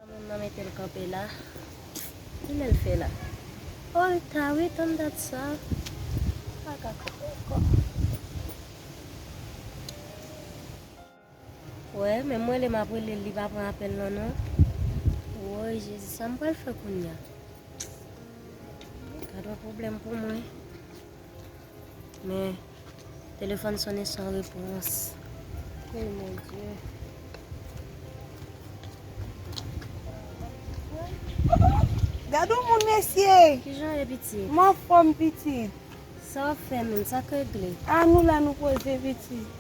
Tanm nan metel kanpe la. Kilel fe la. Oh li ta wi tanm dat sa. M paka kanpe anko. Wè menm m rele map relel li pa pran apel lan non. Woy jezi sam pral fe kounya. Gadon pwoblem pou mwen. Men telefòn sonnen san repons. Oh mon Dieu. Gadon moun mesye. Kijan ou ye pitit? M anfòm pitit. Sa w ap fè menm? Sa k regle? A nou la nou poze pitit.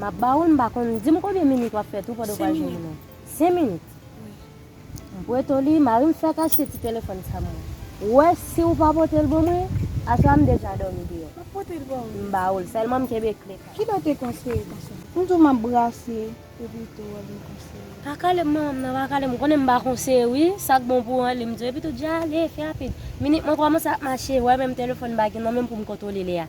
Map ba ou l m pa konn. Di m konbyen minit wap fè tou pandan w pral jwenn moun an. 5 minit? M pwete w li, mari m fèk achte ti telefòn sa mwen. Ou wè si ou pa pote l ban mwen, aswè a m deja dòmi deyò. Map pote l ba ou. M ba ou l, sèlman m kenbe kle kay. Ki lè w te konseye konsa? M di w map brase epi w te wè vin konseye. Pa kale m non, manman pa kale m. Ou konnen m ba konseye wi, sak bon pou ou an li m di w. Epitou di ale, fè rapid. Minit mwen kòmanse ap mache, ou wè menm telefòn m pa gen nan men m pou m kontwole lè a.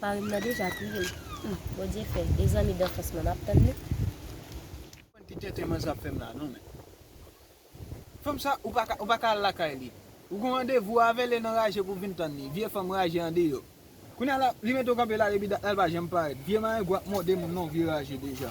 Marim nan deja touyem humm bondye fè e zanmi danfans mwen map tann li. Mwen ki tenten manzè ap fèm la non men fanm sa ou paka ou paka al lakay li ou gon randevou avèl e nan raje pou vin tann li vye fanm raje andeyo kounya la li mete w kanpe la depi dat la li pa janm parèt vye marengou ap mòde moun non vye raje deja.